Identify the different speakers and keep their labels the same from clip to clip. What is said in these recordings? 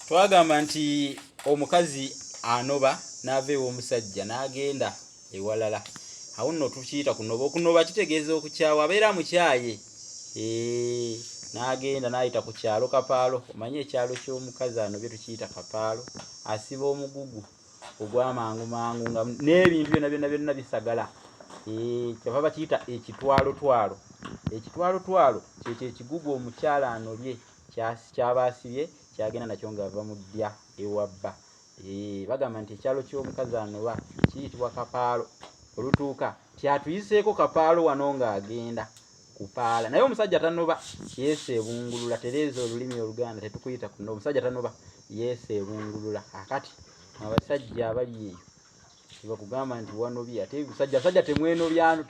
Speaker 1: twagamba nti omukazi anoba n'ava ew'omusajja n'agenda ewalala awo nno tukiyita kunoba okunoba kitegeeza okukyawa abeera mukyaye n'agenda n'ayita ku kyalo kapaalo omanye ekyalo ky'omukazi anobye tukiyita kapaalo asiba omugugu ogwamangu mangu nga n'ebintu byona byona byonna bisagala kyava bakiyita ekitwalotwalo ekitwalotwalo kyekyo ekigugu omukyala anobye kyaba asibye kyagenda nakyo nga ava mu ddya ewa bba eh, bagamba nti ekyalo ky'omukazi anoba kiyitibwa kapaalo olutuuka tyatuyiseeko kapaalo wano ng'agenda kupaala naye omusajja tanoba yesu ebungulula tereeza olulimi oluganda tetukuyita kuno omusajja tanoba yesu ebungulula akati abasajja abali eyo tebakugamba nti wanobye ate musajja sajja temwenobyano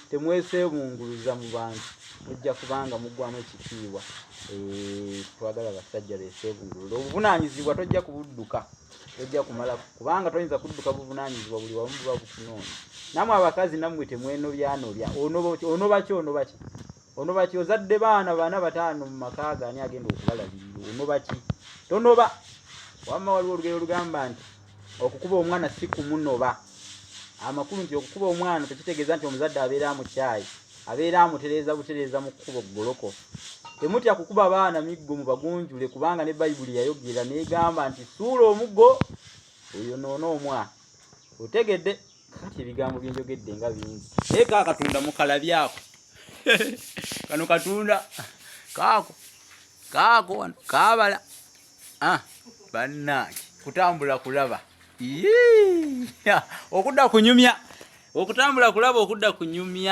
Speaker 1: temwesebunguluza mu bantu mujja kubanga mugwamu ekitiibwa eh, twagala basajja besebungulula obuvunanyizibwa tojja kubudduka tojja kumala kubanga toyinza kudduka buvunanyizibwa buli wamu buba bukunoonya namwe abakazi namwe temwenobyanobya onobaki onobaki onobaki ozadde baana bana bataano mu makaaga ani agenda okubalabirira onobaki tonoba wamma waliwo olugero olugamba nti okukuba omwana si kumunoba amakulu nti okukuba omwana tekitegeeza nti omuzadde abeera mukyayi abeera amutereeza butereeza mu kkubo ggoloko temutya kukuba baana miggo mu bagunjule kubanga ne bayibuli yayogera negamba nti suula omuggo oyo noona omwana otegedde kati ebigambo byenjogedde nga bingi naye ka katunda mukalabyako kano katunda kaako kaako wano kaabala ah, bannange kutambula kulaba okudda kunyumya okutambula kulaba okudda kunyumya